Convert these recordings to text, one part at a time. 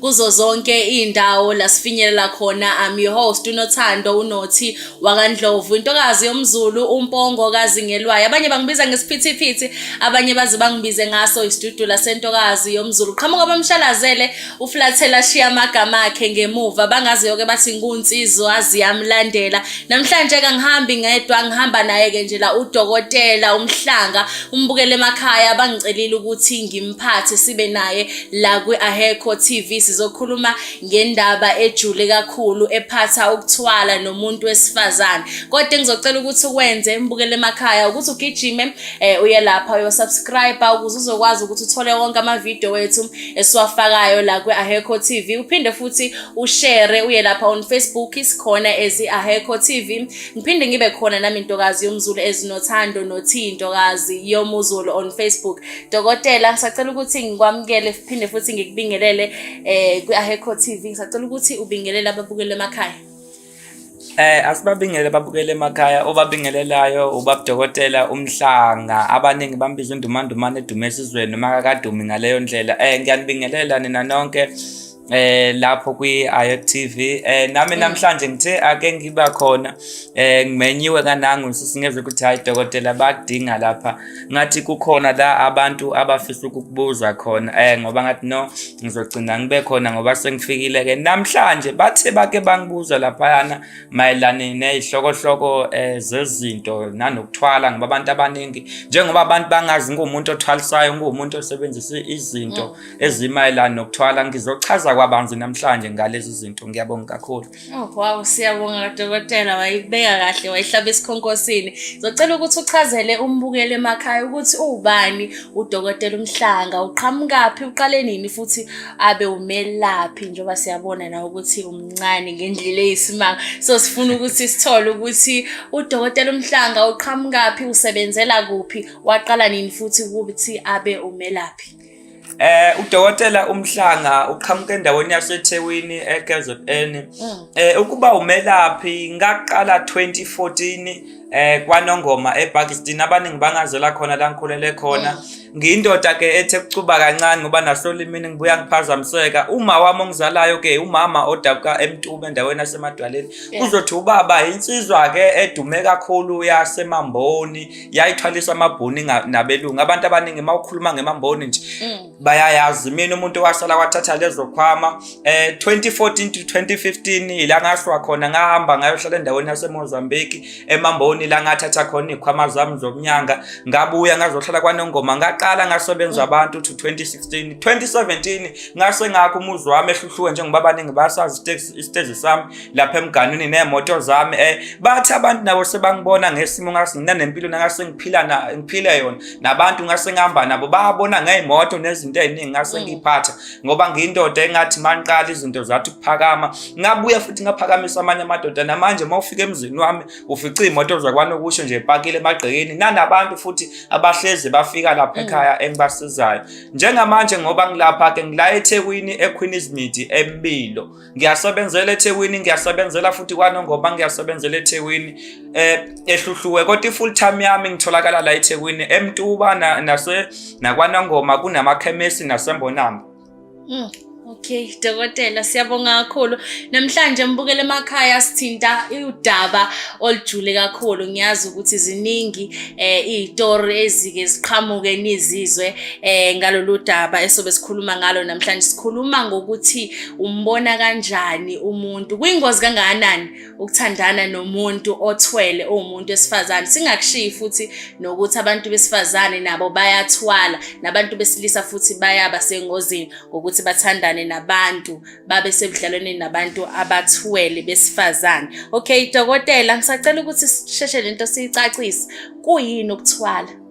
kuzo zonke iy'ndawo la sifinyelela khona I'm your host unothando unothi wakandlovu intokazi yomzulu umpongo kazingelwayo abanye bangibiza ngesiphithiphithi abanye baze bangibize ngaso isidudu lasentokazi yomzulu qhamuka bamshalazele uflathela shiya amagama akhe ngemuva bangaze yoke bathi nkunsizwa ziyamlandela namhlanje kangihambi ngedwa ngihamba naye-ke nje la udokotela umhlanga umbukele emakhaya bangicelile ukuthi ngimphathe sibe naye La kwi-Ahekho TV sizokhuluma ngendaba ejule kakhulu ephatha ukuthwala nomuntu wesifazane. Kodwa engizocela ukuthi ukwenze embukele emakhaya ukuthi ugijime eh, uye lapha uyosubscribe ukuze uzokwazi ukuthi uthole wonke amavidiyo wethu esiwafakayo la kwi-Ahekho TV. Uphinde futhi ushare uye lapha on Facebook isikhona as i-Ahekho TV. Ngiphinde ngibe khona nami intokazi yomzulu ezinothando nothi intokazi yomuzulu on Facebook. Dokotela ngisacela ukuthi ngikwamukele phinde futhi ngikubingelele eh kwi-Aheco TV ngisacela ukuthi ubingelele ababukeli emakhaya. Eh asibabingele babukele emakhaya obabingelelayo ubabudokotela umhlanga abaningi bambiza undumandumane edume esizweni uma kakadumi ngaleyo ndlela eh ngiyanibingelela nina nonke eh lapho kwi Ayot TV eh nami mm. namhlanje ngithe ake ngiba khona eh ngimenyiwe kanangu sisingezwe ukuthi hayi dokotela bakudinga lapha ngathi kukhona la abantu abafisa ukukubuzwa khona eh ngoba ngathi no ngizogcina ngibe khona ngoba sengifikile ke namhlanje bathe bake bangibuza lapha yana mayelana nezihlokohloko eh zezinto nanokuthwala ngoba abantu abaningi njengoba abantu bangazi ngumuntu othwalisayo ngumuntu osebenzisa izinto mm. ezimayelana nokuthwala ngizochaza kwabanzi namhlanje ngalezi zinto ngiyabonga kakhulu oh wow siyabonga dokotela wayibeka kahle wayihlaba esikhonkosini ngizocela ukuthi uchazele umbukeli emakhaya ukuthi uwubani udokotela umhlanga uqhamukaphi uqale nini futhi abe umelaphi njengoba siyabona nawe ukuthi umncane ngendlela eyisimanga so sifuna ukuthi sithole ukuthi udokotela umhlanga uqhamukaphi usebenzela kuphi waqala nini futhi ukuthi abe umelaphi Eh udokotela umhlanga uqhamuke endaweni yaseThekwini eKZN. Mm. Eh ukuba umelaphi ngaqala 2014 eh kwaNongoma ePakistan abaningi bangazela khona la ngikhulele khona. Mm. Ngiyindoda ke ethe kucuba kancane ngoba nasolimini ngibuya ngiphazamiseka. Uma wami ongizalayo ke umama odabuka eMtube endaweni yaseMadwaleni. Uzothi ubaba insizwa ke edume kakhulu yaseMamboni. yayithwalisa amabhuni nabelungu abantu abaningi uma ukhuluma ngemamboni nje mm. bayayazi mina umuntu wasala kwathatha lezo khwama um eh, 2014 to 2015 ila ngaswa khona ngahamba ngayohlala endaweni yasemozambique emamboni la ngathatha khona iy'khwama zami zokunyanga ngabuya ngazohlala kwanongoma ngaqala ngasebenza mm. abantu to 2016 2017 ngase ngakho umuzi wami ehluhluke njengoba abaningi basazi isitezi sami lapha emganwini neemoto zami um bathi abantu nabo sebangibona ngesimo ngase nginanempilo nangase ngiphila ngiphile yona nabantu ngase ngihamba nabo babona ngey'moto nezinto ey'ningi ngase mm. ngiyiphatha ngoba ngiyindoda engathi mangiqala izinto zathi ukuphakama ngabuya futhi ngaphakamisa amanye amadoda namanje uma ufika emzini wami ufica iy'moto zakwanokusho nje pakile emagqekeni nanabantu futhi abahlezi bafika lapha mm. ekhaya engibasizayo njengamanje ngoba ngilapha-ke ngila ethekwini equeenismidi empilo ngiyasebenzela eThekwini ngiyasebenzela futhi kwaNongoma ngiyasebenzela eThekwini eh ehluhluwe kodwa ifull time yami ngitholakala la eThekwini eMtuba nase nakwaNongoma kunamakhemesi nasembonamba mm. Okay, dokotela siyabonga kakhulu. Namhlanje mbukele emakhaya sithinta udaba olujule kakhulu. Ngiyazi ukuthi ziningi eh izitori ezike ziqhamuke nizizwe eh ngalolu daba esobe sikhuluma ngalo namhlanje. Sikhuluma ngokuthi umbona kanjani umuntu kuyingozi kangakanani ukuthandana nomuntu othwele owumuntu wesifazane singakushiyi futhi nokuthi abantu besifazane nabo bayathwala nabantu besilisa futhi bayaba sengozini ngokuthi bathandane nabantu babe sebudlalwaneni nabantu abathwele besifazane okay dokotela ngisacela ukuthi sisheshe lento siyicacise kuyini ukuthwala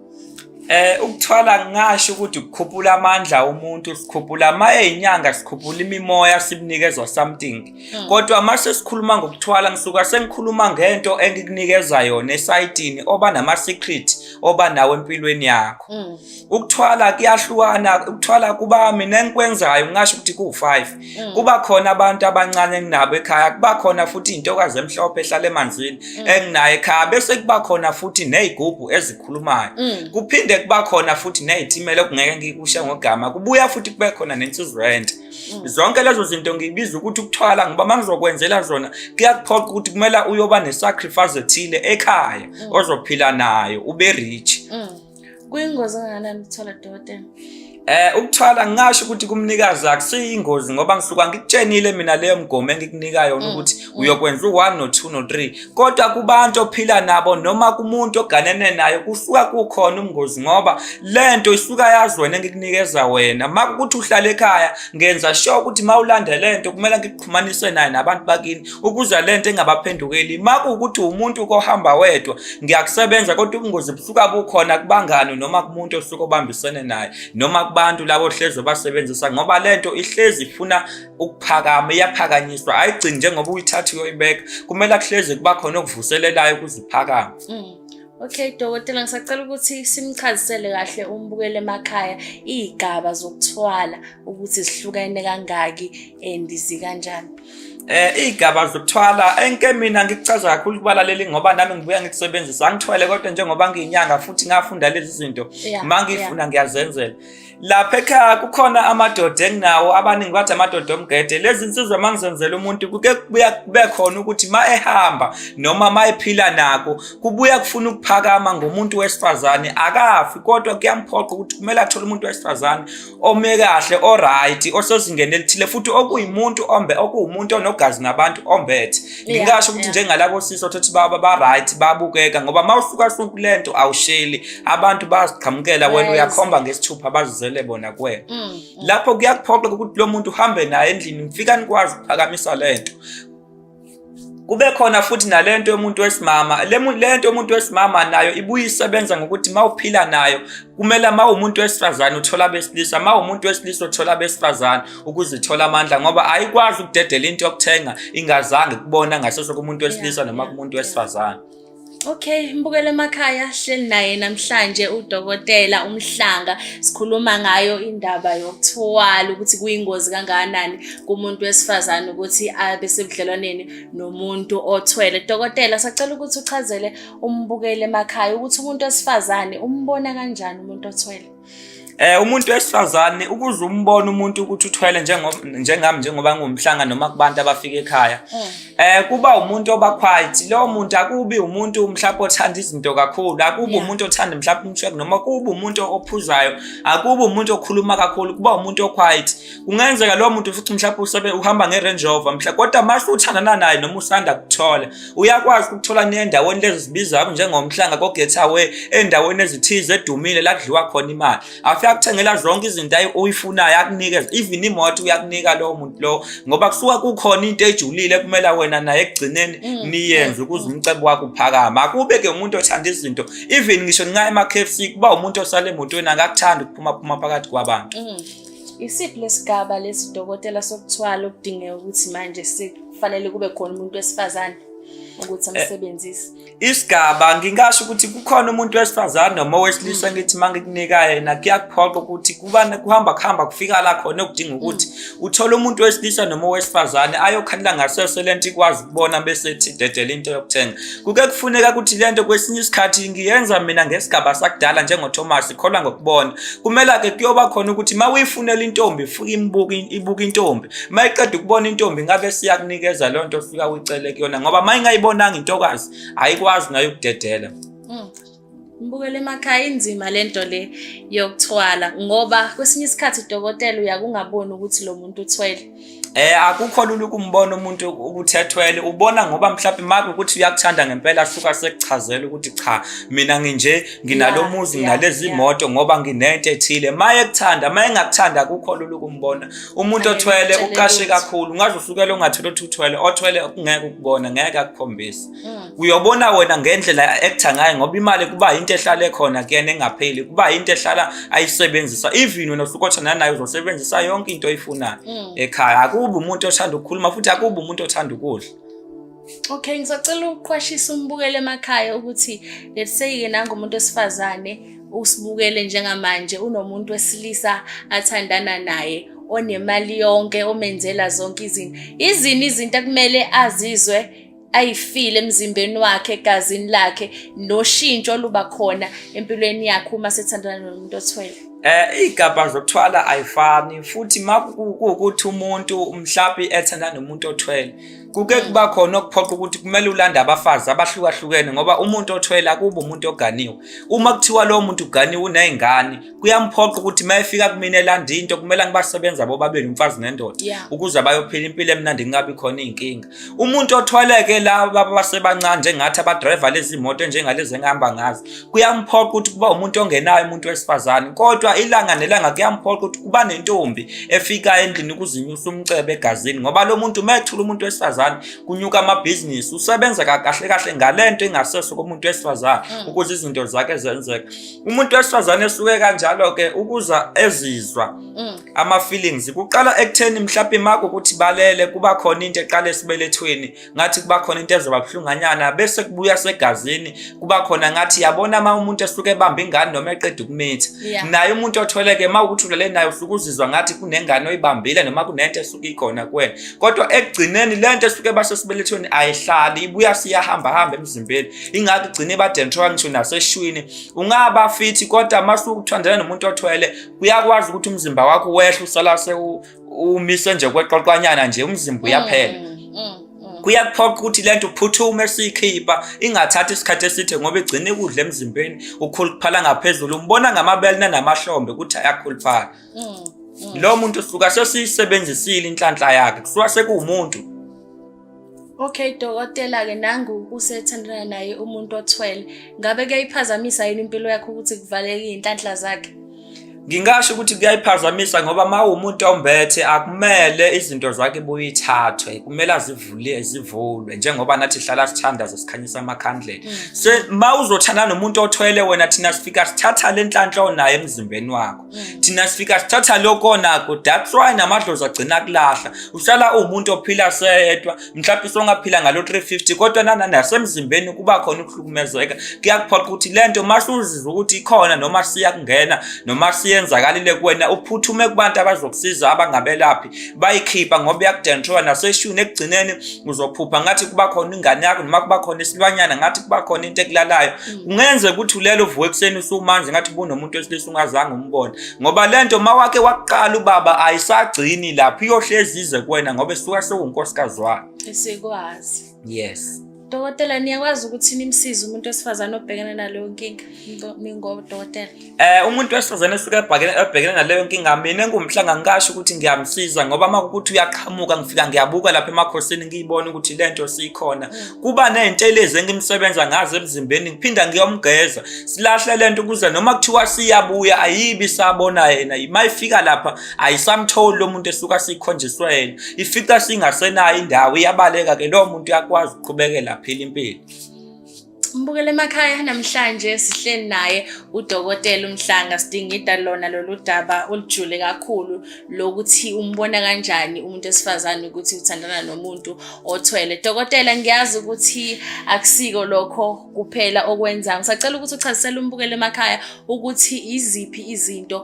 Eh ukuthwala ngasho ukuthi ukukhuphula amandla umuntu sikhuphula maye inyanga sikhuphula imimoya sibunikezwa something hmm. kodwa mase sikhuluma ngokuthwala ngisuka sengikhuluma ngento engikunikeza yona esayitini oba nama secret oba nawo empilweni yakho hmm. ukuthwala kuyahlukana ukuthwala kubami nenkwenzayo ngasho ukuthi ku5 Mm. kuba khona abantu abancane enginabo ekhaya kuba khona futhi intokazi emhlophe ehlala emanzini mm. enginayo ekhaya bese kuba khona futhi nezigubhu ezikhulumayo mm. kuphinde kuba khona futhi nezithimela okungeke ngikushe ngogama kubuya futhi kube khona nensizurent zonke lezo zinto ngibiza ukuthi ukuthwala ngoba uma ngizokwenzela zona kuyakuphoqa ukuthi kumele uyoba nesacrifice ethile ekhaya ozophila nayo ube rich Kuyingozi kangakanani ukuthola dokotela? Eh ukuthwala ngingasho ukuthi kumnikazi akusiyingozi ngoba ngisuka ngikutshenile mina leyo mgomo engikunika yona mm, ukuthi mm. uyokwenza u1 no 2 no 3 kodwa kubantu ophila nabo noma kumuntu oganene naye kusuka kukhona umngozi ngoba lento isuka yazi wena engikunikeza wena makukuthi uhlala ekhaya ngenza sure ukuthi mawulanda lento kumele ngikuxhumanise naye nabantu bakini ukuza le nto engabaphendukeli makuwukuthi umuntu kohamba wedwa ngiyakusebenza kodwa ubungozi busuka bukhona kubangani noma kumuntu osuke obambisene naye noma kubantu labo hlezi obasebenzisa ngoba le nto ihlezi ifuna ukuphakama iyaphakanyiswa ayigcini njengoba uyithatha uyoyibeka kumele kuhlezi kuba khona okuvuselelayo ukuze iphakame mm. Okay dokotela ngisacela ukuthi simchazisele kahle umbukele emakhaya izigaba zokuthwala ukuthi zihlukene kangaki and zikanjani. Eh igaba zokuthwala enke mina ngikuchaza kakhulu kubalaleli ngoba nami ngibuya ngikusebenzisa angithwele kodwa njengoba ngiyinyanga futhi ngafunda lezi zinto mangifuna ngiyazenzela lapha ekhaya kukhona amadoda enginawo abaningi bathi amadoda omgede lezi nsizwa mangizenzela umuntu kuke kubuya kube khona ukuthi ma ehamba noma ma ephila nako kubuya kufuna ukuphakama ngomuntu wesifazane akafi kodwa kuyamphoqa ukuthi kumele athole umuntu wesifazane ome kahle oright osezingeni elithile futhi okuyimuntu ombe okuwumuntu onogazi nabantu ombethe ngingasho ukuthi njengalabo sisi othothi baba ba right babukeka ngoba mawusuka suku lento awusheli abantu baziqhamukela wena uyakhomba ngesithupha bazizele bona kuwena mm, mm. lapho kuyakuphoqa ukuthi lo muntu uhambe naye endlini mfika nikwazi ukuphakamisa lento kube khona futhi nalento yomuntu wesimama lento yomuntu wesimama nayo ibuye isebenza ngokuthi mawuphila nayo kumele mawumuntu wesifazane uthola besilisa mawumuntu wesilisa uthola besifazane ukuzithola amandla ngoba ayikwazi ukudedela into yokuthenga ingazange kubona ngasese kumuntu wesilisa noma kumuntu wesifazane Okay, mbukele emakhaya hleli naye namhlanje udokotela umhlanga sikhuluma ngayo indaba yokuthwala ukuthi kuyingozi kangakanani kumuntu wesifazane ukuthi abe sebudlelwaneni nomuntu othwele. Dokotela sacela ukuthi uchazele umbukele emakhaya ukuthi umuntu wesifazane umbona kanjani umuntu othwele. Eh umuntu wesifazane ukuze umbone umuntu ukuthi uthwele njengoba njengami njengoba ngumhlanga noma kubantu abafika ekhaya. Mm. Eh kuba umuntu oba quiet. Lo muntu akubi umuntu mhlawumbe othanda izinto kakhulu, akubi umuntu othanda mhlawumbe umshebe noma kuba umuntu ophuzayo, akubi umuntu okhuluma kakhulu, kuba umuntu o quiet. kungenzeka lowo muntu futhi mhlawumbe usabe uhamba nge-range rover mhla kodwa uma usuthandana naye noma usanda kuthola uyakwazi ukuthola nendaweni lezi zibiza kabi njengomhlanga kogetaway endaweni ezithize edumile la kudliwa khona imali afike akuthengela zonke izinto oyifunayo akunikeza even imoto uyakunika lowo muntu lowo ngoba kusuka kukhona into ejulile ekumela wena naye ekugcineni mm, niyenze ukuze umcebo wakho uphakame akube ke umuntu othanda izinto even ngisho ninga ema-kfc kuba umuntu osale emotweni akakuthandi ukuphuma phuma phakathi kwabantu mm. Isiphi lesigaba lesi dokotela sokuthwala okudingeka ukuthi manje sikufanele kube khona umuntu wesifazane ukuthi eh, amsebenzise? Isigaba ngingasho ukuthi kukhona umuntu wesifazane noma owesilisa mm. ngithi mangikunika yena kuyakuphoqa ukuthi kubana kuhamba kuhamba kufika la khona okudinga mm. ukuthi uthole umuntu wesilisa noma owesifazane ayokhandla ngasese lento ikwazi kubona bese ethi dedela into yokuthenga Kuke kufuneka ukuthi le nto kwesinye isikhathi ngiyenza mina ngesigaba sakudala njengoThomas ikholwa ngokubona. Kumela ke kuyoba khona ukuthi uma uyifunela intombi fuka imbuka ibuka intombi. Uma iqeda ukubona intombi ngabe siyakunikeza loo nto ofika uyicele kuyona ngoba uma ingayibonanga intokazi ayikwazi nayo ukudedela. Mm. Mbukele emakhaya inzima lento le yokuthwala ngoba kwesinye isikhathi udokotela uyakungaboni ukuthi lo muntu uthwele. Eh akukho lula ukumbona umuntu ukuthi ethwele ubona ngoba mhlawumbe maku ukuthi uyakuthanda ngempela suka sekuchazela ukuthi cha mina nginje nginalomuzi nginalezi imoto ngoba nginento ethile maye kuthanda maye ngakuthanda akukho lula ukumbona umuntu othwele uqashe kakhulu ngaze usukele ongathula ukuthi uthwele othwele kungeke ukubona ngeke akukhombise Hmm. uyobona wena ngendlela actor ngayo ngoba imali kuba into ehlale khona kuyena engapheli kuba into ehlala ayisebenzisa even wena usukothana nayo uzosebenzisa yonke into oyifunayo hmm. ekhaya akubi umuntu othanda ukukhuluma futhi akubi umuntu othanda ukudla Okay ngisacela ukuqwashisa umbukele emakhaya ukuthi let's say ke nangomuntu osifazane usibukele njengamanje unomuntu wesilisa athandana naye onemali yonke omenzela zonke izinto izini izinto akumele azizwe ayifile emzimbeni wakhe egazini lakhe noshintsho oluba khona empilweni yakhe uma sethandana nomuntu othwele eh igaba zokuthwala ayifani futhi makukuthi umuntu mhlapi ethanda nomuntu othwele kuke mm. kuba khona okuphoqa ukuthi kumele ulande abafazi abahlukahlukene ngoba umuntu othwele akuba umuntu oganiwe uma kuthiwa lowo muntu uganiwe unezingane kuyamphoqa ukuthi uma efika kumina elanda into kumele ngibasebenza bobabili umfazi nendoda yeah. ukuze bayophila impilo emnandi kungabi khona iy'nkinga umuntu othwaleke la baba basebancane njengathi abadrayiva lezi moto njengalezi engihamba ngazo kuyamphoqa ukuthi kuba umuntu ongenayo umuntu wesifazane kodwa ilanga nelanga kuyamphoqa ukuthi kuba nentombi efika endlini ukuzinyusa umcebe egazini ngoba lo muntu uma ethula umuntu wesifazane kunyuka amabhizinisi usebenza kahle kahle ngale nto engaseso komuntu wesifazane mm. ukuze izinto zakhe zenzeka umuntu wesifazane esuke kanjalo ke ukuza ezizwa mm. ama feelings kuqala ekutheni mhlawumbe mako ukuthi balele kuba khona into eqala esibelethweni ngathi kuba khona into ezoba buhlunganyana bese kubuya segazini kuba khona ngathi yabona uma umuntu esuke ebamba ingane noma eqeda ukumitha naye umuntu otholeke uma ukuthi ulele naye usuke uzizwa ngathi kunengane oyibambile noma kunento esuke ikhona kuwena kodwa ekugcineni lento esuke basesibelethweni ayihlali ibuya siyahamba hamba emzimbeni ingakho igcina ibadentrola ngisho naseshwini ungaba fithi kodwa masukuthandana nomuntu othwele kuyakwazi ukuthi umzimba wakho wehle usala sewumise nje kweqoqwanyana nje umzimba uyaphela mm, mm, mm. kuyakuphoqa ukuthi le nto uphuthume siyikhipha ingathathi isikhathi eside ngoba igcine ikudla emzimbeni ukhuluphala ngaphezulu umbona ngamabele nanamahlombe ukuthi ayakhuluphala lo muntu suka sesiyisebenzisile inhlanhla yakhe kusuka sekuwumuntu Okay dokotela ke nangu usethandana naye umuntu othwele. Ngabe kuyayiphazamisa yini impilo yakhe ukuthi kuvaleke inhlanhla zakhe? Ngingasho ukuthi kuyayiphazamisa ngoba uma umuntu ombethe akumele izinto zakhe buyithathwe kumele azivule zivulwe njengoba nathi hlala sithanda zesikhanyisa amakhandlela mm. se uma uzothanda nomuntu othwele wena thina sifika sithatha lenhlanhla onayo emzimbeni wakho thina sifika sithatha lokonako that's why namadlozi agcina kulahla uhlala uwumuntu ophila seyedwa mhlawumbe songaphila ngalo 350 kodwa nana nasemzimbeni kuba khona ukuhlukumezeka kuyakuphoqa ukuthi le nto uma suzizwa ukuthi ikhona noma siyakungena noma siyenzakalile kuwena uphuthume kubantu abazokusiza abangabelaphi bayikhipha ngoba iyakudentrowa naseshuni ekugcineni uzophupha ngathi kuba khona ingane yakho noma kuba khona isilwanyana ngathi kuba khona into ekulalayo mm. kungenze ukuthi ulele uvuke ekuseni usumanzi ngathi bunomuntu wesilisa ungazange umbone ngoba le nto ma wake wakuqala ubaba ayisagcini lapho iyohlezi ize kuwena ngoba esuka sewunkosikazi wakhe esikwazi yes Dokotela niyakwazi ukuthi nimsize umuntu wesifazane obhekene naleyo nkinga ningodokotela. Eh umuntu wesifazane suke abhekene naleyo nkinga mina ngumhlanga ngikasho ukuthi ngiyamsiza ngoba uma ukuthi uyaqhamuka ngifika ngiyabuka lapha emakhosini ngiyibona ukuthi lento sikhona. Mm. Kuba nezintelezi engimsebenza ngazo emzimbeni ngiphinda ngiyomgeza. Silahle lento ukuze noma kuthiwa siyabuya ayibi sabona yena. Mayifika lapha ayisamtholi lo muntu esuka sikhonjiswe yena ifica singasenayo indawo iyabaleka ke lowo muntu uyakwazi ukuqhubekela phila impilo Mbukele emakhaya namhlanje sihleli naye udokotela uMhlanga sidingida lona lolu daba olujule kakhulu lokuthi umbona kanjani umuntu esifazane ukuthi uthandana nomuntu othwele. Dokotela ngiyazi ukuthi akusiko lokho kuphela okwenza. Ngisacela ukuthi uchazisele umbukele emakhaya ukuthi iziphi izinto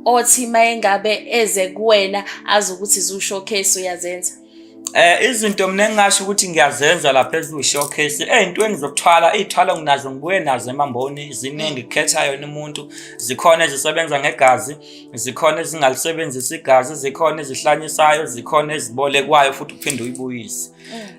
othi mayengabe eze kuwena azi ukuthi zu-showcase uyazenza Eh izinto mina engingasho ukuthi ngiyazenza lapha eziwu showcase ezintweni eh, zokuthwala izithwalo nginazo ngibuye nazo emamboni ziningi kukhetha yona umuntu zikhona ezisebenza ngegazi zikhona ezingalisebenzisa igazi zikhona ezihlanyisayo zikhona ezibolekwayo futhi uphinde uyibuyise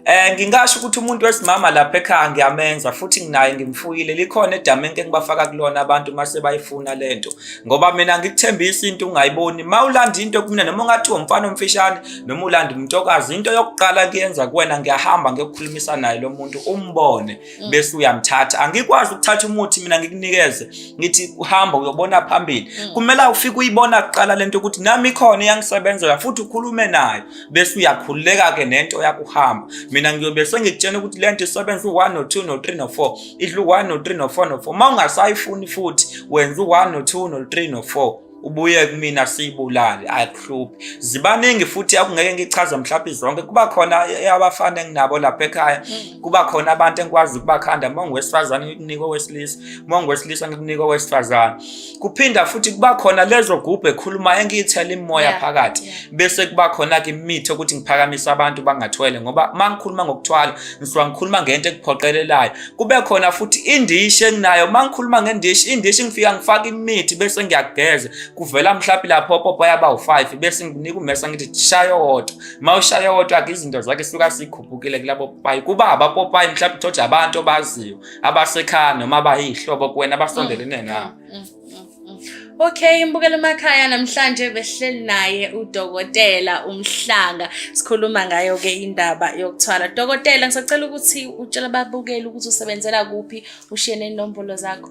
Eh ngingasho ukuthi umuntu wesimama lapha ekhaya ngiyamenza futhi nginaye ngimfuyile likhona edamenke engibafaka kulona abantu mase bayifuna lento ngoba mina ngikuthembisa into ungayiboni mawulanda into kumina noma ungathi umfana omfishane noma ulanda umntokazi into yokuqala kuyenza kuwena ngiyahamba ngiyokukhulumisa naye lo muntu umbone mm. bese uyamthatha angikwazi ukuthatha umuthi mina ngikunikeze ngithi uhamba uyobona phambili mm. kumele ufike uyibona kuqala lento ukuthi nami ikhona iyangisebenzela futhi ukhulume nayo bese uyakhululeka ke nento yakuhamba mina ngiyobe sengikutshena ukuthi le nto isebenza u-one no-two no-three no-four idla u-one no-three no-four no-four uma ungasayifuni futhi wenza u-one no-two no-three no-four ubuye kumina siyibulale ayikuhluphi zibaningi futhi akungeke ngichaze mhlawumbe zonke kuba khona abafana enginabo lapha ekhaya mm. kuba khona abantu engikwazi ukubakhanda uma ngiwesifazane ngikunika owesilisa uma ngiwesilisa ngikunika owesifazane kuphinda futhi kuba khona lezo gubhu ekhuluma engiyithela imimoya yeah, phakathi yeah. bese kuba khona-ke imithi ukuthi ngiphakamise abantu bangathwele ngoba uma ngikhuluma ngokuthwala ngisuka ngikhuluma ngento ekuphoqelelayo kube khona futhi indishi enginayo uma ngikhuluma ngendishi indishi ngifika ngifake imithi bese ngiyakugeza kuvela mhlawumbe lapho opopo yaba u-five bese nginika umesa ngithi shaye owodwa uma ushaye owodwa-ke izinto zakhe suka sikhupukile kulabo popayi kuba abapopayi mhlawumbe thoja abantu obaziyo abasekhaya noma abayihlobo kuwena abasondelene mm, nawe mm, mm, Okay imbukela emakhaya namhlanje behleli naye udokotela umhlanga sikhuluma ngayo ke indaba yokuthwala dokotela ngisacela ukuthi utshela babukeli ukuthi usebenzela kuphi ushiye nenombolo zakho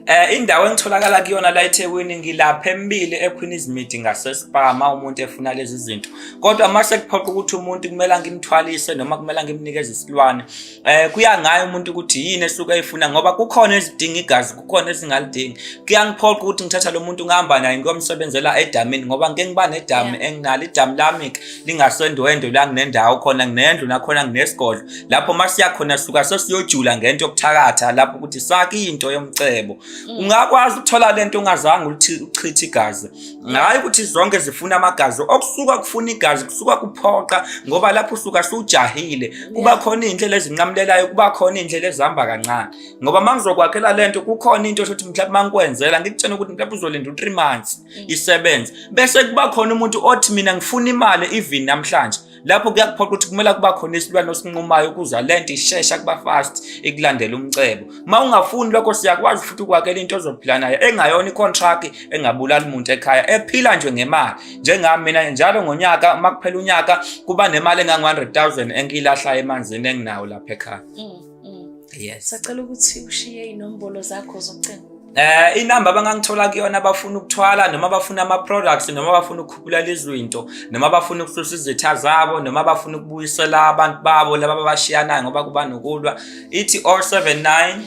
Eh indawo engitholakala kuyona la eThekwini ngilapha embili eQueen Izimidi ngasespama umuntu efuna lezi zinto. Kodwa mase kuphoqa ukuthi umuntu kumele ngimthwalise noma kumele ngimnikeze isilwane eh kuya ngaye umuntu ukuthi yini esuke ayifuna ngoba kukhona ezidinga igazi kukhona ezingalidingi kuyangiphoqa ukuthi ngithatha lo muntu ngihamba naye ngiyomsebenzela edamini ngoba ngike ngiba nedami enginalo idamu lami lingasendwendwe la nginendawo khona nginendlu nakhona nginesigodlo lapho uma siya khona suka sesiyojula ngento yokuthakatha lapho ukuthi sake into yomcebo mm. ungakwazi ukuthola lento ungazange uchithe igazi ngayo ukuthi zonke zifuna amagazi okusuka kufuna igazi kusuka kuphoqa ngoba lapho usuka sujahile kuba khona indlela ezinqamulelayo kuba khona indlela ezihamba kancane ngoba mangizokwakhela lento kukhona into shothi mhlawumbe mangikwenzela ngikutshena ukuthi mhlawumbe uzolinda u3 months mm. isebenze bese kuba khona umuntu othi mina ngifuna imali even namhlanje lapho kuyakuphoqa ukuthi kumele kuba khona isilwane osinqumayo ukuzwa le nto ishesha kuba fast ikulandela umcebo uma ungafuni lokho siyakwazi futhi ukwakela into ozophila nayo engayona icontract engabulali muntu ekhaya ephila nje ngemali njengami mina njalo ngonyaka uma kuphela unyaka kuba nemali engangu-100 000 engiyilahlayo emanzini enginawo lapha ekhaya mm. Mm. Yes. Sacela ukuthi ushiye inombolo zakho zocingo. Eh inamba abangangithola kuyona abafuna ukuthwala noma abafuna ama products noma abafuna ukukhuphula lezinto noma abafuna ukususa izitha zabo noma abafuna ukubuyisela abantu babo laba abashiyanayo ngoba kuba nokulwa ithi 079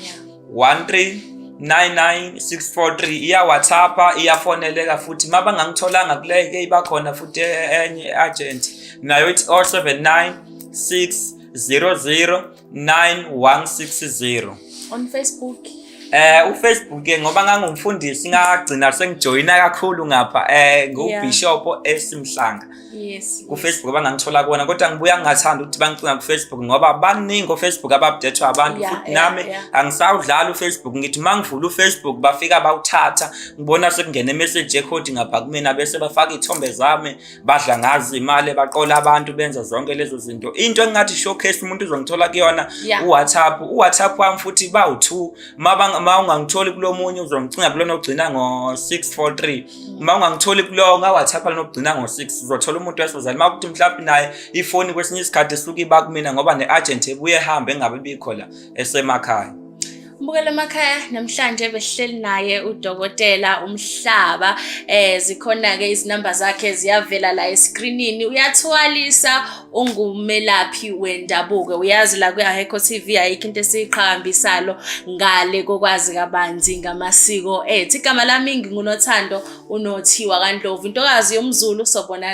13 99643 iya WhatsApp iyafoneleka futhi mabangangitholanga kuleke ibakhona futhi enye agent nayo ithi 079 6 009160 on Facebook eh ufacebook ke ngoba ngangumfundisi ngagcina sengijoyina kakhulu ngapha eh ngubishop esimhlanga yes kufacebook abangangithola kuona kodwa ngibuya ngingathanda ukuthi bangicinga kufacebook ngoba baningi ofacebook ababdethwa abantu futhi nami angisawudlala ufacebook ngithi mangivula ufacebook bafika bawuthatha ngibona sekungena imessage ekhodi ngapha kumina bese bafaka ithombe zami badla ngazi imali baqola abantu benza zonke lezo zinto into engathi showcase umuntu uzongithola kuyona yeah. uwhatsapp uwhatsapp wami futhi bawu-two ma ungangitholi kulo munye uzongicinga kulona ogcina ngo-643 ma ungangitholi kulowo ngawhatsapp lona ogcina ngo-6 uzothola umuntu wesozali ma kuthi mhlawumbe naye ifoni kwesinye isikhathi esuke iba kumina ngoba ne-agent ebuye ehambe engabe bikho la esemakhaya Mbukela emakhaya namhlanje besihleli naye udokotela umhlaba eh zikhona ke izinamba zakhe ziyavela la escreenini uyathwalisa ungumelaphi wendabuko uyazi la kwi Aheko TV ayikho into esiqhambisalo ngale kokwazi kabanzi ngamasiko ethi igama lami ngingunothando unothiwa kaNdlovu intokazi yomZulu sobonana